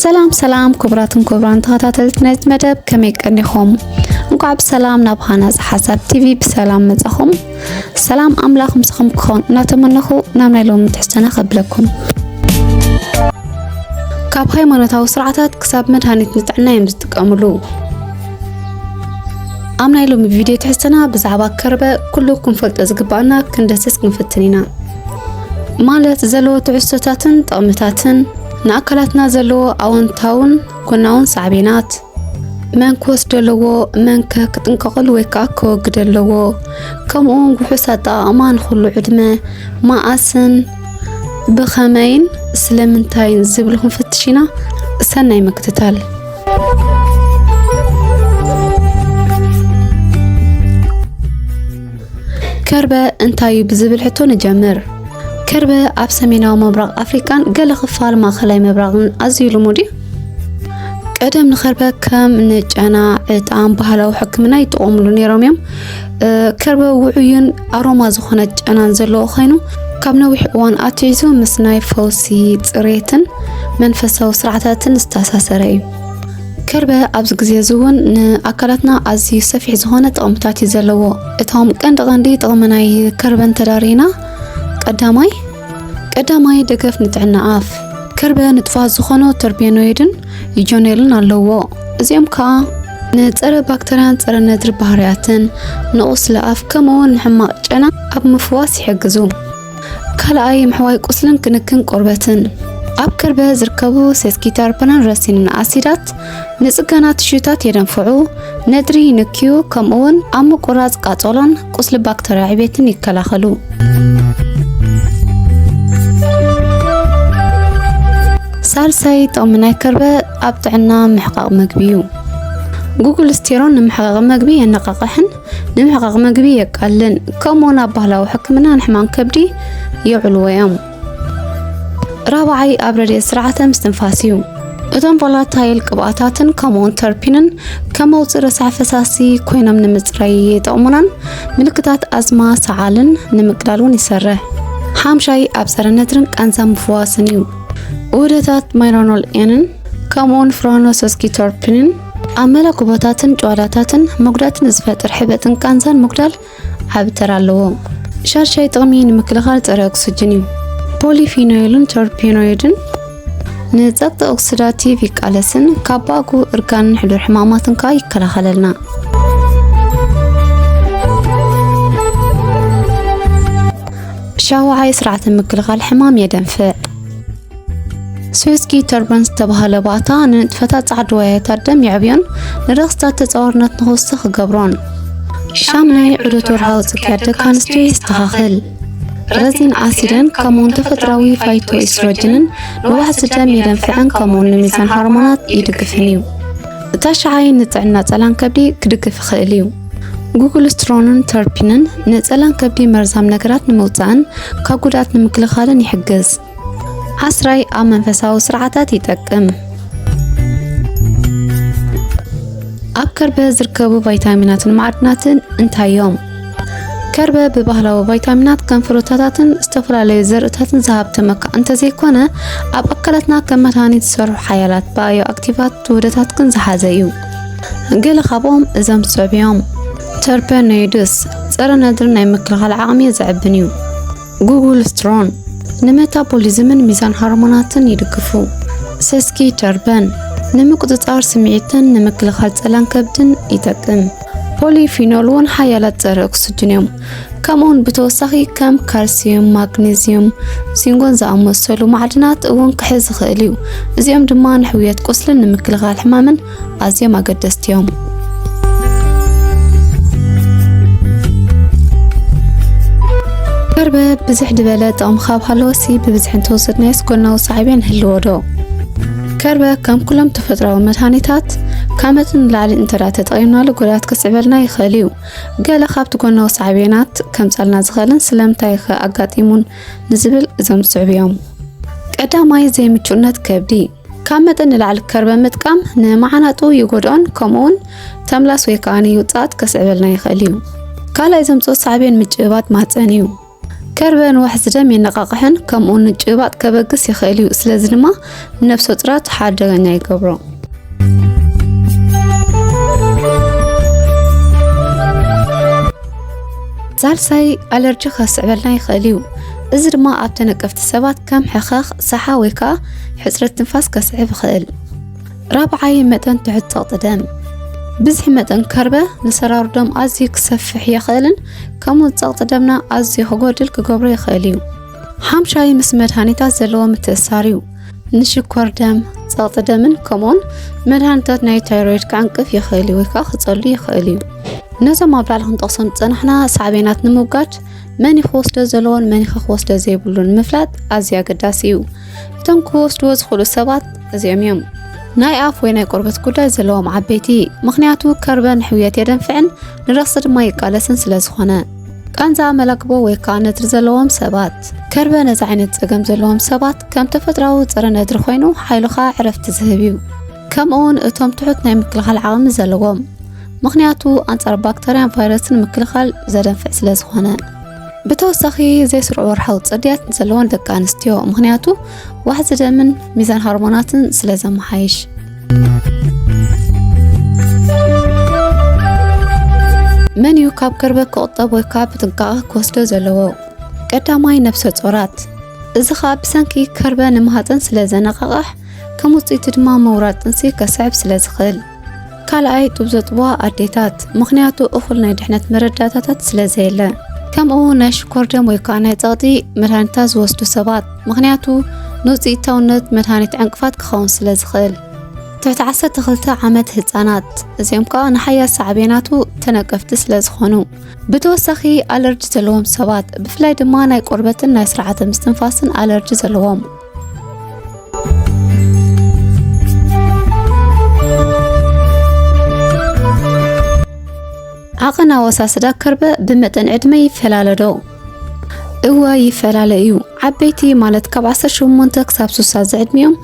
ሰላም ሰላም ክቡራትን ክቡራን ተኸታተልቲ ናይዚ መደብ ከመይ ቀኒኹም? እንኳዕ ብሰላም ናብ ሃናፅ ሓሳብ ቲቪ ብሰላም መጻኹም። ሰላም ኣምላኽ ምስኹም ክኾን እናተመነኹ ናብ ናይ ሎሚ ትሕዝቶና ከብለኩም። ካብ ሃይማኖታዊ ስርዓታት ክሳብ መድሃኒት ንጥዕና እዮም ዝጥቀምሉ። ኣብ ናይ ሎሚ ቪድዮ ትሕዝቶና ብዛዕባ ከርበ ኩሉ ክንፈልጦ ዝግባኣና ክንደስስ ክንፍትን ኢና። ማለት ዘለዎ ትሕዝቶታትን ጥቕምታትን ንኣካላትና ዘለዎ ኣወንታውን ጎናውን ሳዕቤናት መን ክወስዶ ኣለዎ መን ከ ክጥንቀቐሉ ወይ ከዓ ከወግደ ኣለዎ ከምኡውን ውሑስ ኣጠቓቕማ ንኹሉ ዕድመ መዓስን ብኸመይን ስለምንታይን ዝብል ክንፍትሽ ኢና ሰናይ ምክትታል ከርበ እንታይ እዩ ብዝብል ሕቶ ንጀምር። ከርበ ኣብ ሰሜናዊ ምብራቕ ኣፍሪቃን ገለ ክፋል ማእከላይ ምብራቕን ኣዝዩ ልሙድ እዩ። ቀደም ንከርበ ከም ንጨና ዕጣን ባህላዊ ሕክምና ይጥቀሙሉ ነይሮም እዮም ከርበ ውዑይን ኣሮማ ዝኾነ ጨናን ዘለዎ ኮይኑ ካብ ነዊሕ እዋን ኣትሒዙ ምስ ናይ ፈውሲ ፅሬትን መንፈሳዊ ስርዓታትን ዝተኣሳሰረ እዩ ከርበ ኣብዚ ግዜ እዚ እውን ንኣካላትና ኣዝዩ ሰፊሕ ዝኾነ ጥቕምታት እዩ ዘለዎ እቶም ቀንዲ ቀንዲ ጥቕሚ ናይ ከርበ እንተዳሪና ቀዳማይ ቀዳማይ ደገፍ ንጥዕና ኣፍ ከርበ ንጥፋት ዝኾኑ ተርቤኖይድን ዩጆኔልን ኣለዎ እዚኦም ከዓ ንፀረ ባክተርያን ፀረ ነድሪ ባህርያትን ንቑስሊ ኣፍ ከምኡውን ንሕማቕ ጨና ኣብ ምፍዋስ ይሕግዙ ካልኣይ ምሕዋይ ቁስልን ክንክን ቆርበትን ኣብ ከርበ ዝርከቡ ሴስኪተርፐናን ረሲንን ኣሲዳት ንጽገና ትሽዩታት የደንፍዑ፣ ነድሪ ይንክዩ፣ ከምኡውን ኣብ ምቁራጽ ቃጸሎን ቁስሊ ባክተርያ ዕቤትን ይከላኸሉ። ሳልሳይ ጥቕሚ ናይ ከርበ ኣብ ጥዕና ምሕቃቕ መግቢ እዩ። ጉግል ስቴሮን ንምሕቃቕ መግቢ የነቓቕሕን ንምሕቓቕ መግቢ የቃልን ከምኡውን ኣብ ባህላዊ ሕክምና ንሕማም ከብዲ የዕልዎ እዮም። ራብዓይ ኣብ ረድኤት ስርዓተ ምስትንፋስ እዩ። እቶም ቮላታይል ቅብኣታትን ከምኡውን ተርፒንን ከም መውፅኢ ረሳሕ ፈሳሲ ኮይኖም ንምፅራይ ይጠቕሙናን ምልክታት ኣዝማ ሰዓልን ንምቅላል እውን ይሰርሕ። ሓምሻይ ኣብ ፀረ ነድርን ቃንዛ ምፍዋስን እዩ። ውህደታት ማይሮኖል ኤንን ከምኡውን ፍሮኖሶስኪቶርፒንን ኣብ መላኩቦታትን ጭዋዳታትን መጉዳእቲ ንዝፈጥር ሕበጥን ቃንዛን ምጉዳል ዓቢ ተራ ኣለዎ። ሻድሻይ ጥቕሚ ንምክልኻል ጸረ ኦክስጅን እዩ። ፖሊፊኖይልን ተርፔኖይድን ንጸቕጢ ኦክሲዳቲቭ ይቃለስን ካብ ባእጉ እርጋንን ሕዱር ሕማማትን ከዓ ይከላኸለልና። ሻውዓይ ስርዓተ ምክልኻል ሕማም የደንፍዕ። ስዊስኪ ተርበን ዝተባህለ ባእታ ንንጥፈታት ጻዕድዋያታት ደም የዕብዮን ንረኽስታት ተጻዋርነት ንክውስኽ ይገብሮን። ሻምናይ ዑደት ወርሃዊ ጽግያት ደቂ ኣንስትዮ የስተኻኽል። ረዚን ኣሲድን ከምኡውን ተፈጥራዊ ፋይቶ ኢስትሮጅንን ንዋሕዚ ደም የደንፍዕን ከምኡውን ንሚዛን ሃርሞናት ይድግፍን እዩ። እታ ሸዓይ ንጥዕና ጸላን ከብዲ ክድግፍ ይኽእል እዩ። ጉግል ስትሮንን ተርፒንን ንጸላን ከብዲ መርዛም ነገራት ንምውጻእን ካብ ጉድኣት ንምክልኻልን ይሕግዝ። ዓስራይ ኣብ መንፈሳዊ ስርዓታት ይጠቅም። ኣብ ከርበ ዝርከቡ ቫይታሚናትን ማዕድናትን እንታይ እዮም? ከርበ ብባህላዊ ቫይታሚናት ከም ፍሩታታትን ዝተፈላለዩ ዘርእታትን ዝሃብተመ እኳ እንተዘይኮነ ኣብ ኣካላትና ከም መድሃኒት ዝሰርሑ ሓያላት ባዮ ኣክቲቫት ውህደታት ግን ዝሓዘ እዩ። ገለ ካብኦም እዞም ዝስዕቡ እዮም። ተርፐኖይድስ ጸረ ነድሪ ናይ ምክልኻል ዓቕሚ ዘዕብን እዩ። ጉግልስትሮን ንመታቦሊዝምን ሚዛን ሃርሞናትን ይድግፉ። ሰስኪ ተርፐን ንምቁጽጻር ስምዒትን ንምክልኻል ጸላን ከብድን ይጠቅም። ፖሊፊኖል እውን ሓያላት ጸረ ኦክስጅን እዮም። ከምኡውን ብተወሳኺ ከም ካልሲዩም፣ ማግኔዚዩም፣ ሲንጎን ዝኣመሰሉ ማዕድናት እውን ክሕዝ ይኽእል እዩ። እዚኦም ድማ ንሕውየት ቁስልን ንምክልኻል ሕማምን ኣዝዮም ኣገደስቲ እዮም። መርበብ ብዝሕ ድበለ ጥቕሚ ካብ ሃለወሲ ብብዝሒ እንተወሰድናዮስ ጎናዊ ሳዕቤን ህልዎ ዶ ከርበ ከም ኩሎም ተፈጥሯዊ መድሃኒታት ካብ መጠን ንላዕሊ እንተዳ ተጠቒምናሉ ጉድኣት ክስዕበልና ይኽእል እዩ ገለ ካብቲ ጎናዊ ሳዕቤናት ከምጻልና ዝኽእልን ስለምንታይ ከ ኣጋጢሙን ንዝብል እዞም ዝስዕቡ እዮም ቀዳማይ ዘይምቹነት ከብዲ ካብ መጠን ንላዕሊ ከርበ ምጥቃም ንመዓናጡ ይጎድኦን ከምኡውን ተምላስ ወይ ከዓ ንውፅኣት ከስዕበልና ይኽእል እዩ። ካልኣይ ዘምፅኦ ሳዕቤን ምጭብባጥ ማህፀን እዩ። ከርበ ንዋሕዚ ደም የነቃቕሕን ከምኡ ንጭባጥ ከበግስ ይኽእል እዩ። ስለዚ ድማ ነፍሰ ጡራት ሓደገኛ ይገብሮ። ሳልሳይ ኣለርጂ ከስዕበልና ይኽእል እዩ። እዚ ድማ ኣብ ተነቀፍቲ ሰባት ከም ሕኸኽ፣ ሰሓ ወይ ከዓ ሕፅረት ትንፋስ ከስዕብ ይኽእል። ራብዓይ መጠን ትሑት ፀቕጢ ደም ብዝሒ መጠን ከርበ ንሰራሩ ደም ኣዝዩ ክሰፍሕ የኽእልን ከምኡ ፀቕጢ ደምና ኣዝዩ ክጎድል ክገብሮ ይኽእል እዩ። ሓምሻይ ምስ መድሃኒታት ዘለዎ ምትእሳር እዩ። ንሽኮር ደም፣ ፀቕጢ ደምን ከምኡውን መድሃኒታት ናይ ታይሮይድ ክዕንቅፍ ይኽእል እዩ ወይ ከዓ ክፀሉ ይኽእል እዩ። ነዞም ኣብ ላዕሊ ክንጠቕሶም ዝፀናሕና ሳዕቤናት ንምውጋድ መን ክወስዶ ዘለዎን መን ክወስዶ ዘይብሉን ምፍላጥ ኣዝዩ ኣገዳሲ እዩ። እቶም ክወስድዎ ዝኽእሉ ሰባት እዚኦም እዮም። ናይ ኣፍ ወይ ናይ ቆርበት ጉዳይ ዘለዎም ዓበይቲ፣ ምክንያቱ ከርበ ንሕውየት የደንፍዕን ንረኽሲ ድማ ይቃለስን ስለ ዝኾነ። ቃንዛ መላግቦ ወይ ከዓ ነድሪ ዘለዎም ሰባት፣ ከርበ ነዚ ዓይነት ፀገም ዘለዎም ሰባት ከም ተፈጥሯዊ ፀረ ነድሪ ኮይኑ ሓይሉኻ ዕረፍቲ ዝህብ እዩ። ከምኡውን እቶም ትሑት ናይ ምክልኻል ዓቕሚ ዘለዎም ምኽንያቱ ኣንጻር ባክተርያን ቫይረስን ምክልኻል ዘደንፍዕ ስለ ዝኾነ ብተወሳኺ ዘይስሩዕ ወርሓዊ ጽድያት ዘለወን ደቂ ኣንስትዮ ምክንያቱ ዋሕዚ ደምን ሚዛን ሃርሞናትን ስለ ዘመሓይሽ መን እዩ ካብ ከርበት ክቑጠብ ወይ ከዓ ብጥንቃቐ ክወስዶ ዘለዎ ቀዳማይ ነብሰ ጾራት እዚ ከዓ ብሰንኪ ከርበ ንማህፀን ስለ ዘነቃቕሕ ከም ውጽኢቱ ድማ ምውራድ ጥንሲ ከስዕብ ስለ ዝኽእል። ካልኣይ ጡብ ዘጥብዋ ኣዴታት፣ ምኽንያቱ እኹል ናይ ድሕነት መረዳእታታት ስለ ዘየለ፣ ከምኡ ናይ ሽኮር ደም ወይ ከዓ ናይ ጸቕጢ መድሃኒታት ዝወስዱ ሰባት፣ ምኽንያቱ ንውጽኢታውነት መድሃኒት ዕንቅፋት ክኸውን ስለ ዝኽእል። ትሕቲ 12 ዓመት ህፃናት እዚኦም ከዓ ንሓያል ሳዕቤናቱ ተነቀፍቲ ስለ ዝኾኑ፣ ብተወሳኺ ኣለርጂ ዘለዎም ሰባት ብፍላይ ድማ ናይ ቆርበትን ናይ ስርዓተ ምስትንፋስን ኣለርጂ ዘለዎም ዓቐን ኣወሳስዳ ከርበ ብመጠን ዕድመ ይፈላለ ዶ? እወ ይፈላለ እዩ። ዓበይቲ ማለት ካብ 18 ክሳብ 60 ዝዕድሚኦም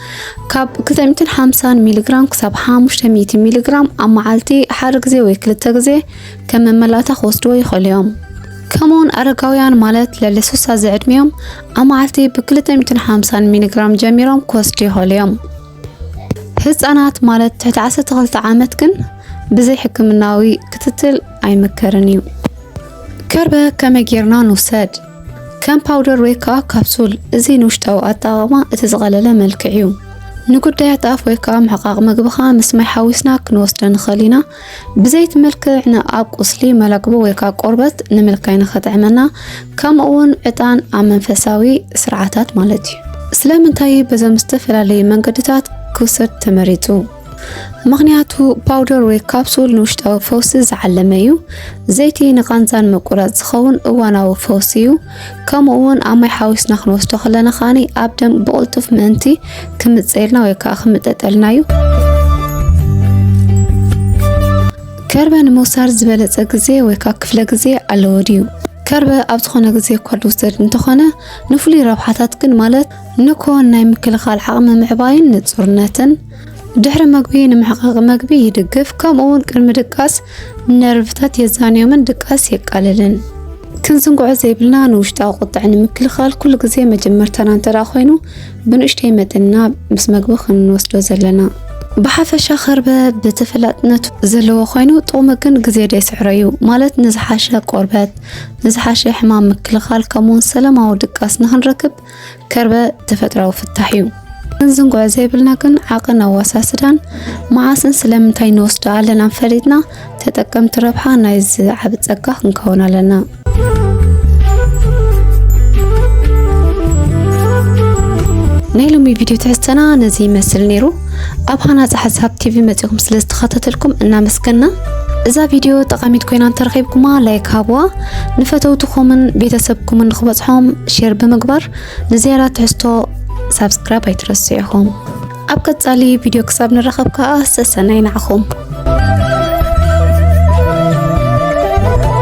ካብ 250 ሚሊግራም ክሳብ 500 ሚሊግራም ኣብ መዓልቲ ሓደ ግዜ ወይ ክልተ ግዜ ከም መመላእታ ክወስድዎ ይኽእሉ እዮም። ከምኡውን ኣረጋውያን ማለት ልዕሊ 60 ዝዕድሚኦም ኣብ መዓልቲ ብ250 ሚሊግራም ጀሚሮም ክወስዱ ይኽእሉ እዮም። ህፃናት ማለት ትሕቲ 12 ዓመት ግን ብዘይ ሕክምናዊ ክትትል ኣይምከርን እዩ። ከርበ ከመይ ጌርና ንውሰድ? ከም ፓውደር ወይ ከዓ ካፕሱል። እዚ ንውሽጣዊ ኣጠቓቕማ እቲ ዝቐለለ መልክዕ እዩ። ንጉዳያት ኣፍ ወይ ከዓ ምሕቃቕ ምግብኻ ምስ ማይ ሓዊስና ክንወስዶ ንኽእል ኢና። ብዘይቲ ምልክዕ ንኣብ ቁስሊ መለክቦ ወይ ከዓ ቆርበት ንምልካይ ንኸጥዕመና ከምኡ እውን ዕጣን ኣብ መንፈሳዊ ስርዓታት ማለት እዩ። ስለምንታይ በዞም ዝተፈላለዩ መንገድታት ክውሰድ ተመሪጹ? ምክንያቱ ፓውደር ወይ ካፕሱል ንውሽጣዊ ፈውሲ ዝዓለመ እዩ። ዘይቲ ንቃንዛን ምቁራጽ ዝኸውን እዋናዊ ፈውሲ እዩ። ከምኡ ውን ኣብ ማይ ሓዊስና ክንወስዶ ከለና ከዓኒ ኣብ ደም ብቕልጡፍ ምእንቲ ክምፀየልና ወይ ከዓ ክምጠጠልና እዩ። ከርበ ንምውሳድ ዝበለፀ ግዜ ወይ ከዓ ክፍለ ግዜ ኣለዎ ድዩ? ከርበ ኣብ ዝኾነ ግዜ እኳ ዝውሰድ እንተኾነ ንፍሉይ ረብሓታት ግን ማለት ንኮን ናይ ምክልኻል ዓቕሚ ምዕባይን ንፁርነትን ድሕሪ ምግቢ ንምሕቃቕ ምግቢ ይድግፍ፣ ከምኡውን ቅድሚ ድቃስ ነርቭታት የዛንዮምን ድቃስ የቃልልን። ክንዝንግዖ ዘይብልና ንውሽጣዊ ቁጥዐ ንምክልኻል ኩሉ ግዜ መጀመርታና እንተ ኮይኑ ብንእሽተይ መጠንና ምስ መግቢ ክንወስዶ ዘለና ብሓፈሻ ከርበ ብተፈላጥነቱ ዘለዎ ኮይኑ ጥቕሙ ግን ግዜ ደይስዕሮ እዩ ማለት ንዝሓሸ ቆርበት ንዝሓሸ ሕማም ምክልኻል ከምኡውን ሰላማዊ ድቃስ ንክንረክብ ከርበ ተፈጥራዊ ፍታሕ እዩ። እንዝንጎ ዘይብልና ግን ዓቕን ኣዋሳስዳን መዓስን ስለምንታይ ንወስዶ ኣለና ፈሊጥና ተጠቀምቲ ረብሓ ናይ ዝዓብ ጸጋ ክንከውን ኣለና። ናይ ሎሚ ቪድዮ ትሕዝተና ነዚ ይመስል ነይሩ። ኣብ ሃናፂ ሓሳብ ቲቪ መፂኹም ስለ ዝተኸታተልኩም እናመስገና እዛ ቪድዮ ጠቓሚት ኮይና እንተረኺብኩማ ላይክ ሃብዋ። ንፈተውትኹምን ቤተሰብኩምን ንክበፅሖም ሼር ብምግባር ንዝያዳ ትሕዝቶ ሳብስክራይብ ኣይትረሱ ኢኹም ኣብ ቀፃሊ ቪድዮ ክሳብ ንራኸብ ከዓ ሰሰናይ ንዓኹም